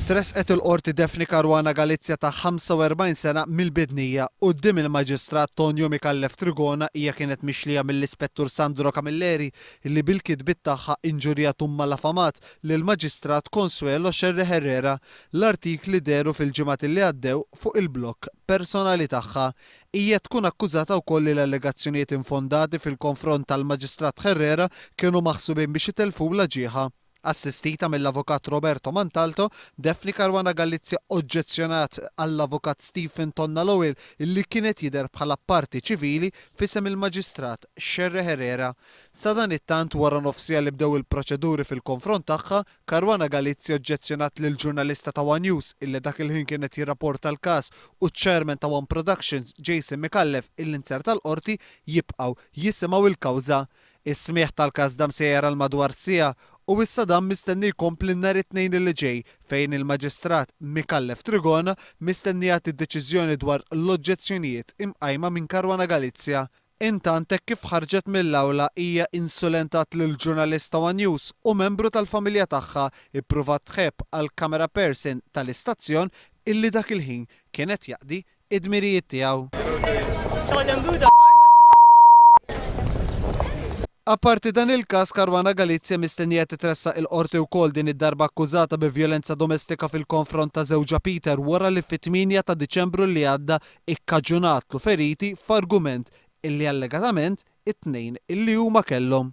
Tressqet il-Qorti Daphne Caruana Galizia ta' 45 sena mill-Bidnija quddiem il-Maġistrat Tonio Micallef Trigona hija kienet mixlija mill-Ispettur Sandro Camilleri li bil-kitbiet tagħha injurjat u mmalafamat lill-Maġistrat Consuelo Scerri Herrera. L-artikli dehru fil-ġimgħat li għaddew fuq il-blog personali tagħha Hija tkun akkużata wkoll li l-allegazzjonijiet infondati fil-konfront tal-Maġistrat Herrera kienu maħsubin biex itellfulha ġieħha. Assistita mill-Avukat Roberto Mantalto, Daphne Caruana Galizia oġġezzjonat għall-Avukat Stephen Tonna Lowell li kien qed jidher bħala parti ċivili f'isem il-Maġistrat Scerre Herrera. Sadanittant, wara nofsija li bdew il-proċeduri fil-konfront tagħha, Caruana Galizia oġġezzjonat lil ġurnalista ta' one News illi dak il-ħin kien qed jirrapporta l-każ u ċ-Chairman ta' one Productions, Jason Micallef illi nzerta l-Qorti jibqgħu jisimgħu l-kawża. Is-smigħ tal-każ dam sejjer għal madwar siegħa u issa dan mistenni jkompli nhar it-Tnejn illi ġej fejn il-Maġistrat Micallef Trigona mistennija jagħti d-deċiżjoni dwar l-oġġezzjonijiet imqajma minn Caruana Galizia Intant hekk kif ħarġet mill-awla hija insulentat lill-ġurnalist ta' one News u membru tal-familja tagħha ippruvat tħebb għall-camera person tal-istazzjon illi dak il-ħin kien qed jaqdi id-dmirijiet tiegħu. Apparti dan il-każ, Caruana Galizia mistennija titressaq il-Qorti wkoll din id-darba akkużata bi vjolenza domestika fil-konfront ta' żewġha Peter wara li fit-tmienja ta' Diċembru li għadda ikkaġunatlu feriti f'argument illi allegatament it-tnejn illi huma kellhom.